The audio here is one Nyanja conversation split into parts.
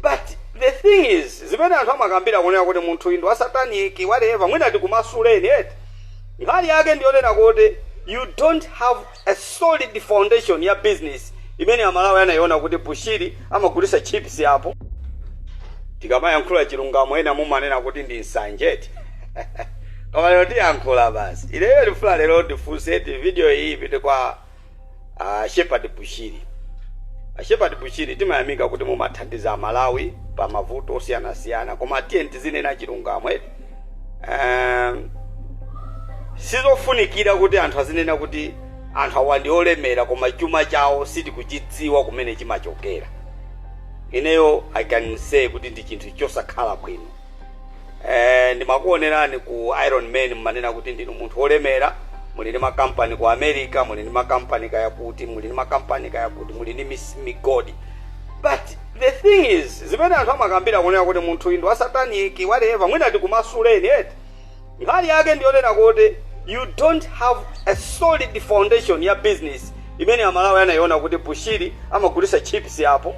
but the thing is zimene anthu amakambira kunena kuti munthu uyu ndi wasataniki whatever mwina tikumasuleni eti nkhani yake ndiyonena kuti you don't have a solid foundation ya business imene amalawi anayiona kuti bushiri amagulisa chips apo tikamayankhula chilungamo ena mumanena kuti ndi nsanje eti koma lero tiyankhula basi ineyo ndifuna lero ndifunse kuti video iyi ipite kwa a Shepherd Bushiri. A Shepherd Bushiri timayamika kuti mumathandiza amalawi pa mavuto osiyanasiyana koma tiyeni tizinena chilungamo. eh. Um, sizofunikira kuti anthu azinena kuti anthu awa ndi olemera koma chuma chawo sitikuchidziwa kumene chimachokera. Ineyo I can say kuti ndi chinthu chosakhala bwino. Eh, ndimakuonerani ku iron man mmanena kuti ndinu munthu wolemera muli ndi makampani ku america muli ndi makampani kaya kuti muli ndi makampani kaya kuti muli ndi mis- migodi but the thing is zimene anthu amakambira kunena kuti munthu uyu ndi wasataniki whatever mwina tikumasuleni eti Nkhani yake ndiyonena kuti you don't have a solid foundation ya business imene amalawi anayiona kuti bushiri amagulisa chips apo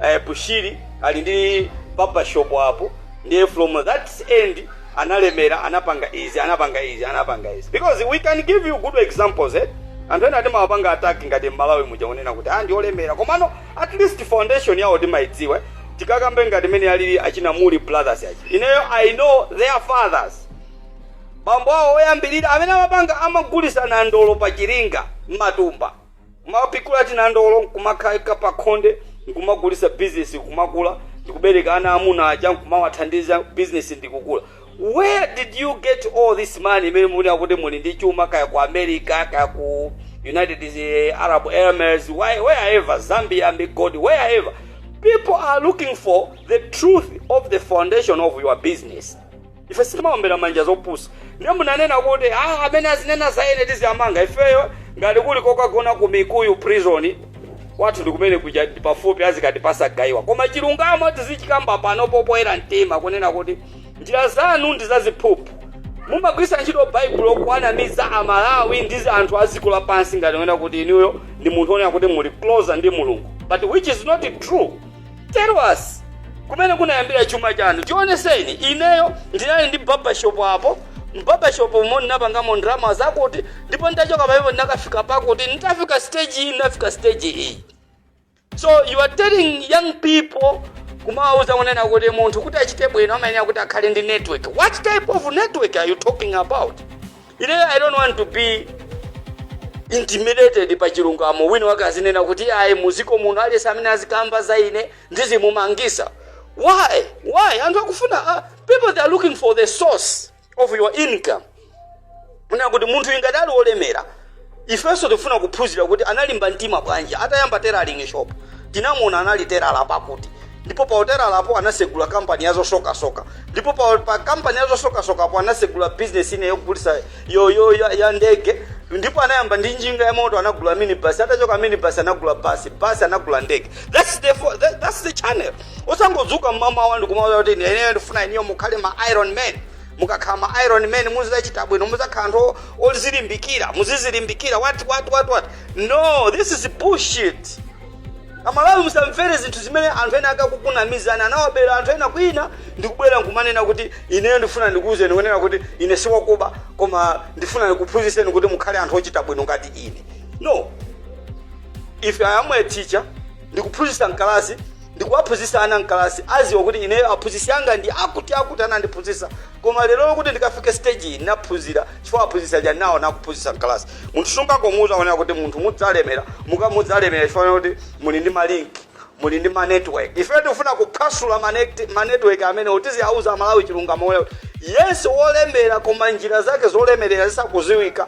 eh, bushiri ali ndi barbershop apo ndiye from that end analemera anapanga izi anapanga izi anapanga izi because we can give you good examples eh? anthu ena timawapanga attack ngati mmalawi muja kunena kuti ah ndiolemera komano At least foundation yawo timaidziwa tikakambe ngati mene alili achina Muli brothers achina ineyo I know their fathers bambo awo oyambirira amene amapanga amagulisa nandolo pa chiringa mmatumba kumapikura tinandolo nkumakaika pa khonde nkumagulisa bizinesi kumakula ndikubereka ana amuna aja nkumawathandiza bizinesi ndikukula Where did you get all this money imene mukunena kuti muli ndi chuma kaya ku America kaya ku United eh, Arab Emirates why- wherever Zambia Migodi wherever people are looking for the truth of the foundation of your business ife sitimaombera manja zopusa ndiye munanena kuti ah, amene azinena za ine tiziwamanga ifeyo ngati kuli kokagona ku mikuyu prison kwathu ndikumene kuja pafupi azikatipasa gayiwa koma chilungamo tizichikamba pano popoyera mtima kunena kuti njira zanu ndi zaziphuphu mumagwiritsa ntchito baibulo kuwanamiza amalawi ndi anthu a dziko lapansi ngati kunena kuti inuyo ndi munthu onena kuti muli closer ndi mulungu but which is not true tell us kumene kunayambira chuma chanu tioneseni ineyo ndinali ndi barbershop apo mbarbershop umo ndinapangamo ndalama zakuti ndipo ndachoka pamenepo ndinakafika pakuti nditafika stage iyi ndinafika stage iyi so you are telling young people kumawauza kunena kuti munthu kuti achite bwino amayenera kuti akhale ndi network what type of network are you talking about ine i don't want to be intimidated pa chilungamo wina wake azinena kuti ayi muziko muno aliyense amene azikamba za ine ndizimumangisa why why anthu akufuna uh, people they are looking for the source of your income kunena kuti munthu ngati ali wolemera ifenso tifuna kuphunzira kuti analimba mtima bwanji atayamba tailoring shop tinamuona anali telala pakuti ndipo pa utelalapo anasegula kampani ya zosokasoka ndipo pa, pa kampani ya zosokasokapo anasegula bizinesi ine yogulisa yo, yo, ya, ya ndege ndipo anayamba ndi njinga ya moto anagula minibasi atachoka minibasi anagula basi basi anagula ndege that's the, fo- that, that's the channel osangodzuka mmamawa ndikumawauza kuti ine ineyo ndifuna inuyo mukhale ma iron man mukakhala ma iron man muzachita bwino muzakhala anthu o- ozilimbikira muzizilimbikira what what what what no this is bullshit amalawi musamvere zinthu zimene anthu ena akukunamizani anawabera anthu ena kwina ndikubwera nkumanena kuti ineyo ndifuna ndikuwuzeni kunena kuti ine siwakuba koma ndifuna ndikuphunzitseni kuti mukhale anthu ochita bwino ngati ine no if i am a teacher ndikuphunzitsa mkalasi ndikuwaphunzitsa ana mkalasi aziwa kuti ineyo aphunzitsi anga ndi akuti akuti anandiphunzitsa koma lero lokuti ndikafike stage iyi ndinaphunzira chifukwa aphunzitsi aja nawo nakuphunzitsa mkalasi munthu sungangomuuza kunena kuti munthu mudzalemera muka mudzalemera chifukwa kuti muli ndi malinki muli ndi manetwork ife tikufuna kuphwasula manet- manetwork amene utiziwauza amalawi chilungamo kuti yes wolemera koma njira zake zolemerera sizikuziwika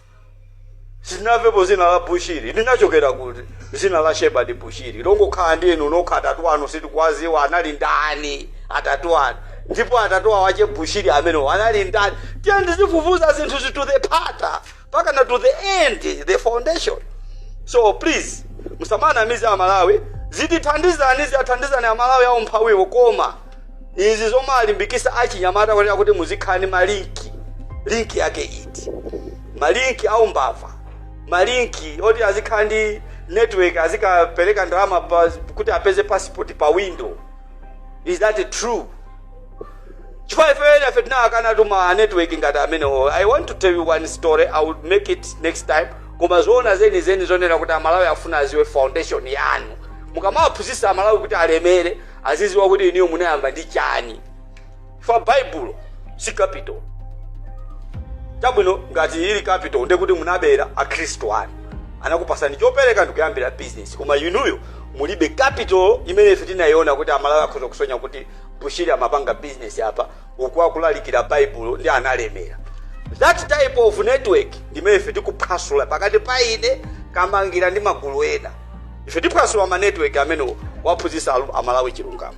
sinamvepo zina la bushiri linachokera kuti zina la shepherd bushiri longokhala ndi inu nokha atatu anu sitikwaziwa anali ndani atatu anu ndipo atate awo ache bushiri amenewo anali ndani tiyeni tizifufuza zinthu zi to the mpaka pakana to the end the foundation so please musamanamize amalawi zitithandizani ziwathandizani amalawi aumphawiwo koma izi zomawalimbikisa achinyamata kuti akuti muzikhala ndi malinki linki yake iti malinki a umbava malinki oti azikhala ndi network azikapereka ndalama pa- kuti apeze passport pa window is that true chifukwa ife ife tinakana tuma network ngati amenewo i want to tell you one story i will make it next time koma zoona zeni zeni nzonena kuti amalawi afuna aziwe foundation yanu mukamawaphunzitsa amalawi kuti alemere aziziwa kuti inuyo munayamba ndi chani for baibulo si capital chabwino ngati ili capital nde kuti munabera akhristu anu anakupasani chopereka ndikuyambira business koma inuyo mulibe capital imene ife tinayiona kuti amalawi akhoza kusonya kuti bushiri amapanga business apa uku akulalikira baibulo ndipo analemera that type of network ndimene ife tikuphwasula pakati pa ine kamangira ndi magulu ena ife tiphwasula ma network amenewo kuwaphunzitsa amalawi chilungamo